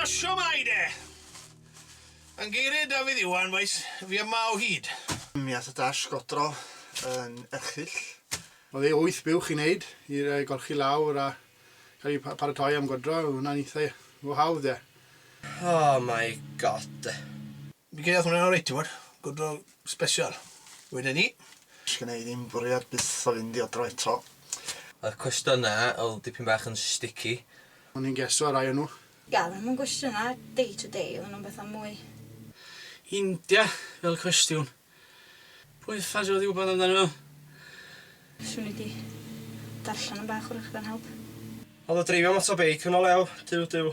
Shwmae de! Yn geiriau Dafydd Iwan, bois, fi yma o hyd. Mi ath y dasg odro yn erchyll. Oedd ei wyth buwch i wneud, i'r ei golchi lawr a cael ei paratoi am godro, oedd hwnna'n eitha go hawdd de. Oh my God de. Fi'n credu ath hwnna'n oreit, ti wbod. Godro Sbesial. Wedyn ni. Sgynna i ddim bwriad byth o fynd i adra eto. Oedd cwestiyna oedd dipyn bach yn sticky. O'n i'n geso rai o nhw. Ia, oedden nhw'm yn gwestiyna day to day, oedden nhw'n betha mwy. India fel cwestiwn. Pwy uffars oedd i wbod amdanyn nhw? Swn i 'di darllen yn bach 'w'rach gan help. Ond o dreifio moto beic yn o lew? Duw, duw.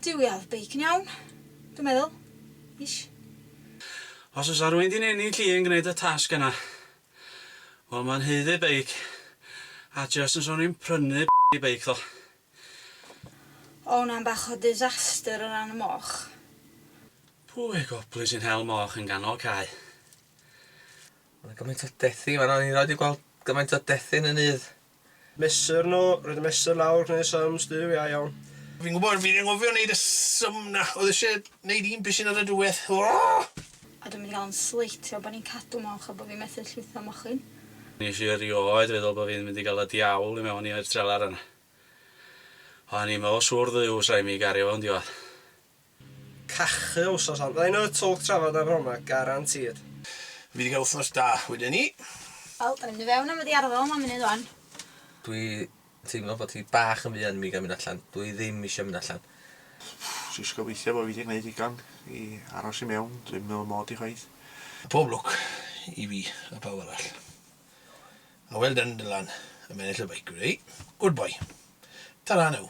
Duw ia odd beic yn iawn. Dwi'n meddwl. Ish. Os fysa rwy'n di'n ennill i yn gwneud y tasg yna. Wel mae'n haeddu beic. A jyst yn sôn rwy'n prynu blydi beic ddo. O wna'n bach o disaster o ran y moch. Pwy goblyn sy'n hel moch yn ganol cae? Ma' 'na gymaint o dethi fanna o'n i rioed 'di gweld gymaint o dethi'n y nydd. Mesur nhw, roedd y mesur lawr gwneud sums du iau iawn. Fi'n gwybod, fi'n anghofio neud y sum 'na, oedd isie neud un bishyn ar y diwedd. Ooh! A dwi'n mynd i gael yn sleitio bo' ni'n cadw moch a bo' fi methu llwytho mochyn. Nesh i erioed feddwl bo' fi'n mynd i ga'l y diawl i mewn i'r trelar yna. O'n i mor siŵr ddyw 'sa i mynd i gario fo'n diwedd. Cachu wsos on. Rhino y twlc trafod a froma, garantîd. Fydd yn cael wythnos da wedyn ni. Wel, dan ni'n mynd i fewn am y diarddel am munud wan. Dwi teimlo bod hi bach yn fuan i mi gael mynd allan. Dw i ddim isio mynd allan. Jyst gobeithio bo fi di gneud digon i aros i mewn, dwi'm yn meddwl mod i chwaith. Pob lwc i fi a pawb arall. A well done Dylan, am ennill y beic wedi. Good boy. Ta-ra now.